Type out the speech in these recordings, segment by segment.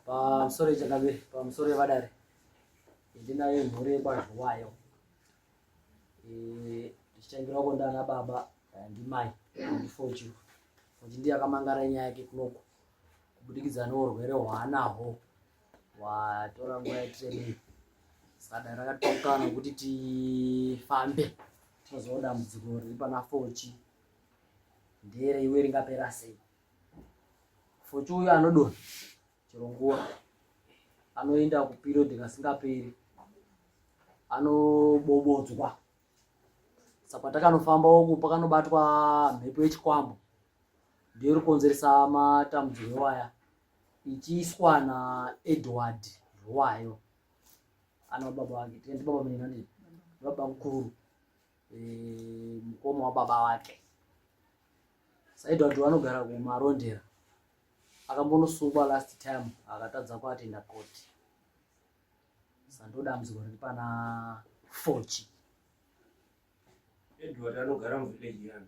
pamusoro yechakabiri pamusoro yevadare ndinayo mhuri yekwazviwayo ndichitangirawo ko ndana baba eh, ndimai ndifoju kuti ndiye akamangara nyaya yake kunoko kubudikidza neurwere hwaanahwo watora nguva yatiremei sakadai rakatokana kuti tifambe tinozoona dambudziko riri pana fochi ndere iwe ringapera sei fochi uyu anodona chero nguva anoenda kuperiod kasingaperi anobobodzwa saka takanofamba uku pakanobatwa mhepo yechikwambo ndiyo iri kukonzeresa matambudziko ewaya ichiiswa naedward rwayo ana baba vake tikaiti baba menani baba mukuru eh, mukoma wababa vake saedward vanogara kumarondera akambonosungwa last time akatadza kuatenda koti sandoda muziko riri pana fochi edward anogara muvillage yani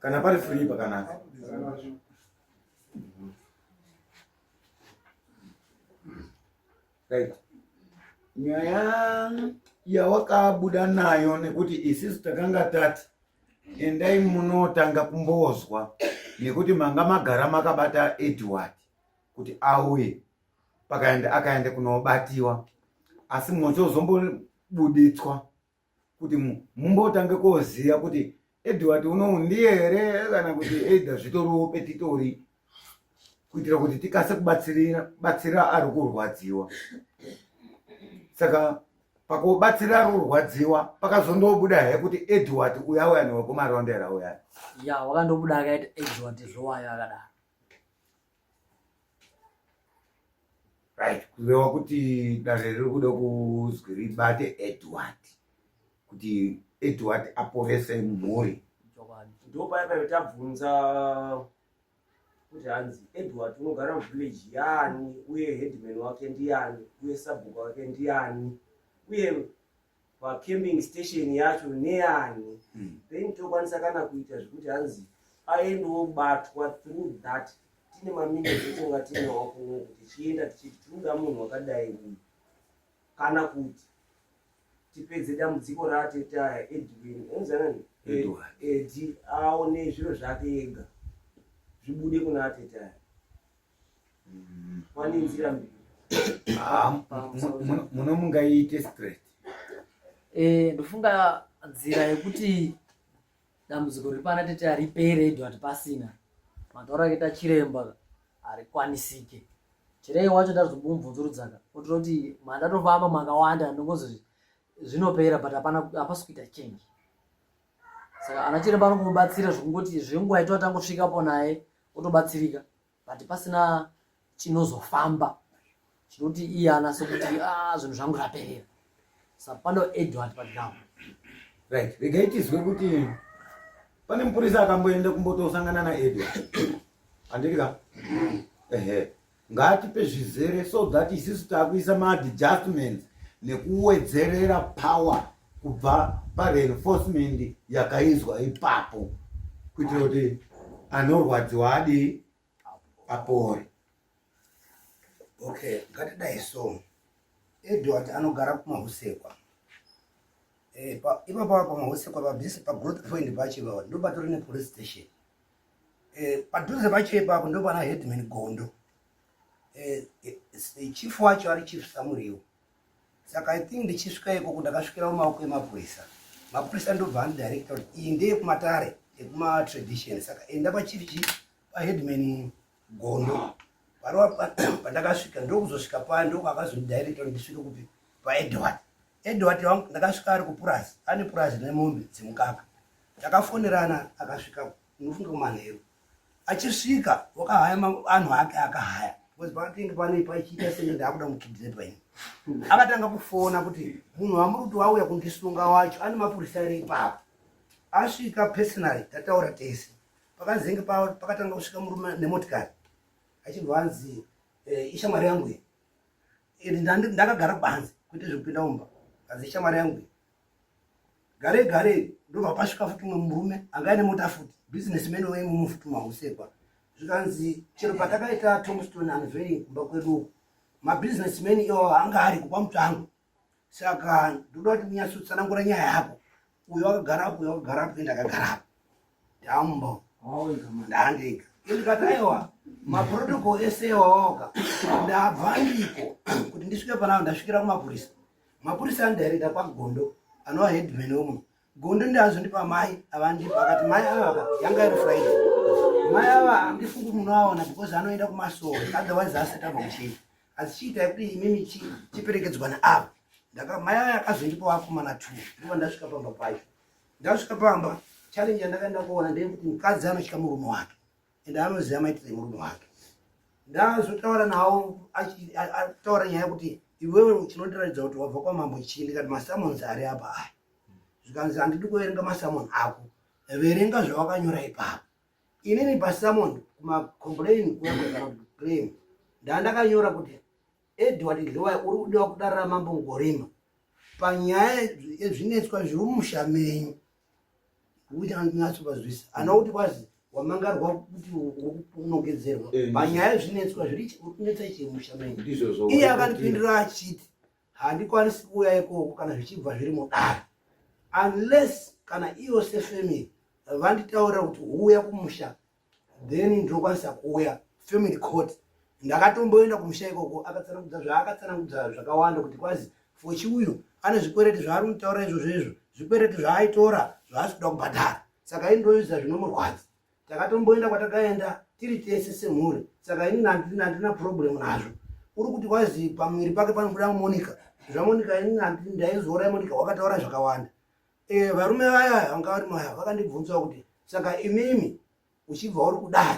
kana pari free pakanaka right nyaya yawakabuda nayo nekuti isisu takanga tati endai munotanga kumbozwa nekuti manga magara makabata edward kuti auye pakaenda akaenda kunobatiwa asi mochozombo buditswa kuti mumbotange koziva kuti edward unowu ndiye here kana kuti either zvitoriwo petitori kuitira kuti tikase kubatsira ari kurwadziwa saka pakubatsira ari kurwadziwa pakazondobuda he kuti edward uya uya newekumaraundera uya ya wakandobuda akaita edward zvowayo akadaro right kureva kuti dare riri kuda kuzwi ribate edward kuti edward aporese mhuri ndopaya paive tabvunza kuti hanzi edward unogara muvillage yaani uye headman wake ndiani uye sabhuku wake ndiani uye pacamping station yacho neani hmm. then tokwanisa kana kuita zvekuti hanzi aendewo batwa through that tine maminutes etonga tinawo kuno kuti tichienda tichiti tinoda munhu wakadai uyu kana kuti tipedze dambudziko raateta edwin enzanani edi aone zviro zvake ega zvibude kuna ateta Ah, muno mungaiite straight eh, ndofunga nzira yekuti dambudziko riri pana tete haripere edu hati pasina mataura keta chiremba harikwanisike chirei wacho ndazomumvunzurudzaka otira kuti mandatofamba makawanda ndongozi zvinopera but hapana hapasi kuita change saka ana chiremba anokubatsira zvekungoti zvenguva ito atangosvikapo naye otobatsirika but pasina chinozofamba chinoti iye anase kuti ah, zvinhu zvangu zvaperera sa pano edward paground right regai tizwe kuti pane mupurisa akamboenda kumbotosangana naedward andiri ka ehe ngaatipe zvizere so that isisu takuisa maadjustments nekuwedzerera power kubva pareinforcement yakaizwa ipapo kuitira kuti anorwadziwa adii apore okay ngatidai so edward anogara kumahusekwa eh, ipapa pamahusekwa pabisi pagrowth point pachiva ndopatori nepolice station Eh, padhuze pacho ipapo ndopana headman gondo eh, eh, chief wacho ari chief samuriwo saka i think ndichisvika ikoko ndakasvikira mumaoko emapurisa mapurisa ndobva andidirecta kuti iyi ndeyekumatare ekumatradition saka enda pachief chi paheadman gondo parova pandakasvika ndokuzosvika paya ndokwakazondidirecta kuti ndisvike kupi paedward Edward wangu ndakasvika ari kupurazi ane purazi nemombe dzemukaka takafonerana akasvika unofunga kumanheru achisvika wakahaya anhu ake akahaya because pakatenge pane pachiita senge ndaakuda mukidnepa ini akatanga kufona kuti munhu wamuruti wauya kundisunga wacho ane mapurisa ere ipapo asvika personally tataura tese pakazenge pakatanga kusvika murume nemotikari achibva anzi eh, ishamwari yangu iyi ndakagara panze kuite zvekupinda mumba asi shamwari yangu gare gare ndobva pasvika futi umwe murume anga ane mota futi business man waye mumwe futi mahusekwa zvikanzi chero patakaita tomstone anveri kumba kwedu uku mabusiness man iwawo anga ari kupa mutsvango saka ndoda kuti munyatsotsanangura nyaya yako uyo wakagara apo uyo wakagara apo ndakagara apo ndambo ndandega ndikati aiwa maprotocol ese iwaoka ndabva ndiko kuti ndisvike panavo ndasvikira kumapurisa mapurisa andirekta kwagondo anova headman omwe gondo ndiazondipa mai avandipa akati mai avaka yanga iri friday mai ava andifungi munoaona because anoenda kumasoro otherwise asati abva kuchii asi chiitai kuti imimi chiperekedzwa neava ndakamaya aya akazoita pavakomana two ndiva ndasvika pamba pacho ndasvika pamba challenge yandakaenda kuona ndeyekuti mukadzi anotya murume wake ende anoziva maitire murume wake ndazotaura nawo ataura nyaya yekuti iwewe chinondiratidza kuti wabva kwamambo chii ndikati masamons ari apa aya zvikanzi handidi kuverenga masamon ako verenga zvawakanyora ipapo inini pasamond kumacomplain kuaem ndaandakanyora kuti edward dlowai uri kudiwa kudarira mambo ngorima panyaya yezvinetswa zviri mumusha menyu kuti anatso pazvisi ana kuti kwazi wamangarwa kuti unogedzerwa eh, panyaya yezvinetswa zviri kunetsa chii mumusha menyu iye akandipindura achiti handikwanisi kuuya ikoko kana zvichibva zviri mudare unless kana iyo sefamily vanditaurira kuti uuya kumusha then ndinokwanisa kuuya family court ndakatomboenda kumusha ikoko akatsanangudza zvaakatsanangudza zvakawanda kuti kwazi fochi uyu ane zvikwereti zvaari kutaura izvozvo izvo zvikwereti zvaaitora zvaasi kuda kubhadhara saka indoyuza zvinomurwadza takatomboenda kwatakaenda tiri tese semhuri saka ini handina handina problem nazvo uri kuti wazi pamuviri pake panobuda monica zvamonica ini handi ndaizoora monica wakataura zvakawanda e, varume vaya vanga vari maya vakandibvunzawo kuti saka imimi uchibva uri kudai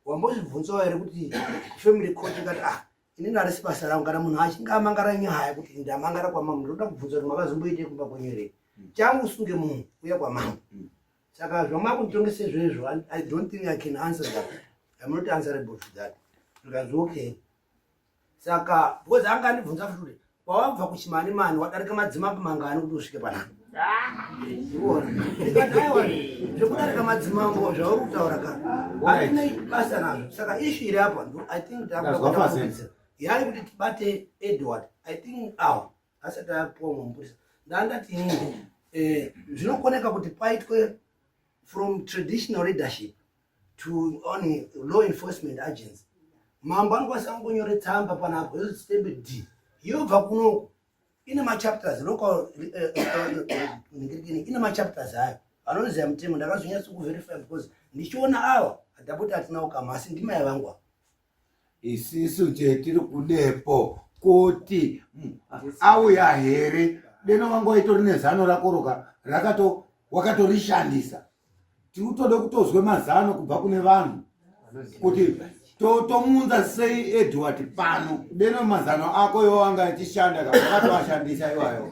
wambozvibvunzawo here kuti family court ingati ah ini ndarisi basa rangu kana munhu achinge amangara nyaya kuti ndamangara kwamambo ndoda kubvunza kuti makazomboitei kumba kwenyu here hmm. changu usunge munhu uya kwamambo hmm. saka zvamakunitongesa izvezvo i don't think i can answer that im not answerable to that zvikanzi okay saka because anga andibvunza futi kuti wawabva kuchimani mani wadarika madzimambo mangani kuti usvike panapa zvekudarika madzimambo zvauri kutaura ka aine basa nazvo saka ishu iri apa i think takuaa yari kuti tibate edward i think awa asati apuwa mumapurisa ndandati ini eh, zvinokoneka kuti paitwe from traditional leadership to only law enforcement agents mambo anokwanisa kungonyore tsamba panapo yozositembe d yobva kunoku ine machapters local eh, eh, eh, ine machapters ayo anonzi amutemo ndakazonyatsa kuverify because ndichiona awa adapoti atinawo kama asi ndimaya vangu isisu chetiri kudepo kuti auya here deno wanga waitori nezano rakoroka rakato wakatorishandisa tiutode kutozwe mazano kubva kune vanhu kuti tomunza sei edward pano deno mazano ako iwo anga achishanda kaaatoashandisa iwayo